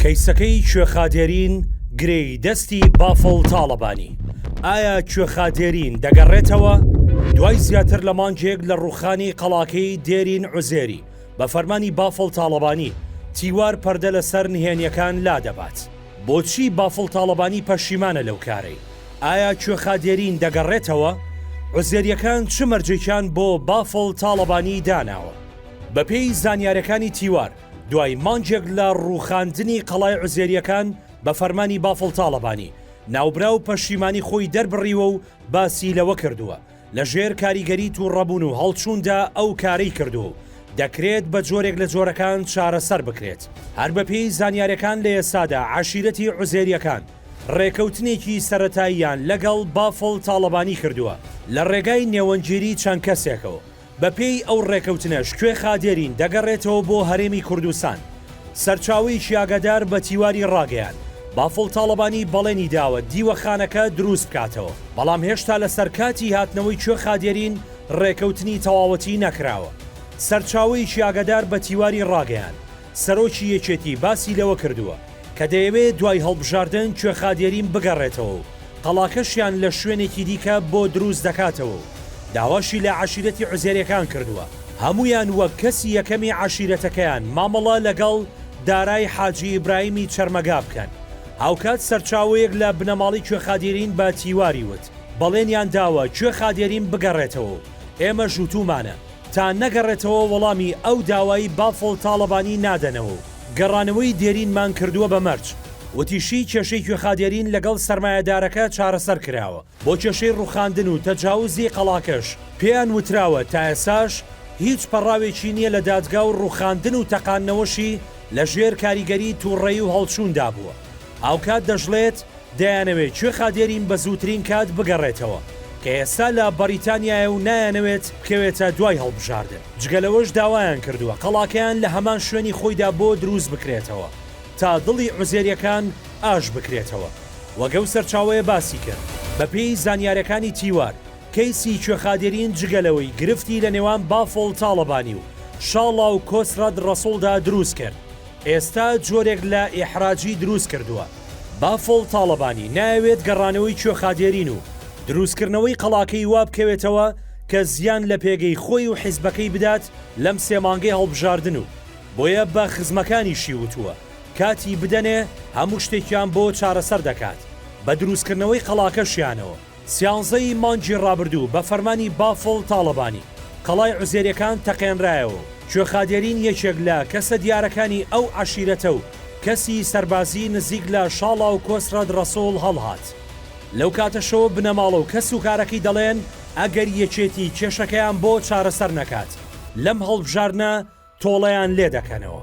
کەیسەکەی کوێخا دێرین گرێی دەستی بافڵ تاڵەبانی، ئایا کوێخا دێرین دەگەڕێتەوە؟ دوای زیاتر لە مانگێک لە ڕووخانی قەڵاکەی دێرین عوزێری بە فەرمانی بافڵ تاڵەبانی، تیوار پەردە لە سەر نهێنییەکان لادەبات. بۆچی بافڵ تاڵەبانی پەشیمانە لەو کارەی؟ ئایا کوێخا دێرین دەگەڕێتەوە؟ عوزێرییەکان چ مەرجێکیان بۆ بافڵ تاڵەبانی داناوە؟ بەپێی زانیارییەکانی تیوار، دوای مانگێک لە ڕووخاندنی قەڵای عوزێرییەکان بە فەرمانی بافڵ تاڵەبانی، ناوبراو پەشیمانی خۆی دەربڕیوە و باسی لەوە کردووە، لە ژێر کاریگەری تووڕەبوون و هەڵچووندا ئەو کارەی کردووە و دەکرێت بە جۆرێک لە جۆرەکان چارەسەر بکرێت. هەر بەپێی زانیارییەکان لە ئێستادا عەشیرەتی عوزێرییەکان ڕێکەوتنێکی سەرەتاییان لەگەڵ بافڵ تاڵەبانی کردووە لە ڕێگای نێوەندگیری چەند کەسێکەوە، بەپێی ئەو ڕێکەوتنەش کوێخا دێرین دەگەڕێتەوە بۆ هەرێمی کوردستان. سەرچاوەیەکی ئاگادار بە تیواری ڕاگەیاند، بافڵ تاڵەبانی بەڵێنی داوە دیوەخانەکە دروست بکاتەوە، بەڵام هێشتا لەسەر کاتی هاتنەوەی کوێخا دێرین ڕێکەوتنی تەواوەتی نەکراوە. سەرچاوەیەکی ئاگادار بە تیواری ڕاگەیاند، سەرۆکی یەکێتی باسی لەوە کردووە، کە دەیەوێت دوای هەڵبژاردن کوێخادێریم بگەڕێتەوە و قەڵاکەشیان لە شوێنێکی دیکە بۆ دروست دەکاتەوە و داواشی لە عەشیرەتی عوزێریەکان کردووە هەموویان وەک کەسی یەکەمی عەشیرەتەکەیان مامەڵە لەگەڵ دارای حاجی ئیبراهیمی چەرمەگا بکەن. هاوکات سەرچاوەیەک لە بنەماڵەی کوێخادێرین بە تیواری وت، بەڵێنیان داوە کوێخادێریم بگەڕێتەوە و ئێمەش وتوومانە، تا نەگەڕێتەوە وەڵامی ئەو داوایی بافڵ تاڵەبانی نادەنەوە و گەڕانەوەی دێرینمان کردووە بە مەرج، وتیشی، کێشەی کوێخا دێرین لەگەڵ سەرمایەدارەکە چارەسەر کراوە، بۆ کێشەی ڕووخاندن و تەجاوزی قەڵاکەش پێیان وتراوە تا ئێستاش هیچ پەڕاوێکی نییە لە دادگا و ڕووخاندن و تەقاندنەوەشی لەژێر کاریگەری توڕەیی و هەڵچووندا بووە، هاوکات دەشڵێت، دەیانەوێت کوێخا دێرین بە زووترین کات بگەڕێتەوە، کە ئێستا لە بەریتانیایە و نایانەوێت بکەوێتە دوای هەڵبژاردن، جگە لەوەش داوایان کردووە قەڵاکەیان لە هەمان شوێنی خۆیدا بۆ دروست بکرێتەوە تا دڵی عوزێرییەکان ئاش بکرێتەوە، وەک ئەو سەرچاوەیە باسی کرد. بەپێی زانیارییەکانی تیوار، کەیسی کوێخا دێرین جگە لەوەی گرفتی لە نێوان بافڵ تاڵەبانی و شاڵاو کۆسرەت ڕەسوڵدا دروست کرد، ئێستا جۆرێک لە ئیحراجی دروست کردووە. بافڵ تاڵەبانی نایەوێت گەڕانەوەی کوێخا دێرین و دروستکردنەوەی قەڵاکەی وا بکەوێتەوە کە زیان لە پێگەی خۆی و حیزبەکەی بدات لەم سێ مانگەی هەڵبژاردن و بۆیە بە خزمەکانیشی وتووە کاتی بدەنێ هەموو شتێکیان بۆ چارەسەر دەکات بە دروستکردنەوەی قەڵاکەشیانەوە. سیانزە ی مانگی ڕابردوو بە فەرمانی بافڵ تاڵەبانی قەڵای عوزێریەکان تەقێنرایەوە و کوێخا دێرین یەکێک لە کەسە دیارەکانی ئەو عەشیرەتە و کەسی سەربازی نزیک لە شاڵا و کۆسرەت ڕەسوڵ هەڵهات لەو کاتەشەوە بنەماڵە و کەس و کارەکەی دەڵێن ئەگەر یەکێتی کێشەکەیان بۆ چارەسەر نەکات لەم هەڵبژاردنە تۆڵەیان لێ دەکەنەوە.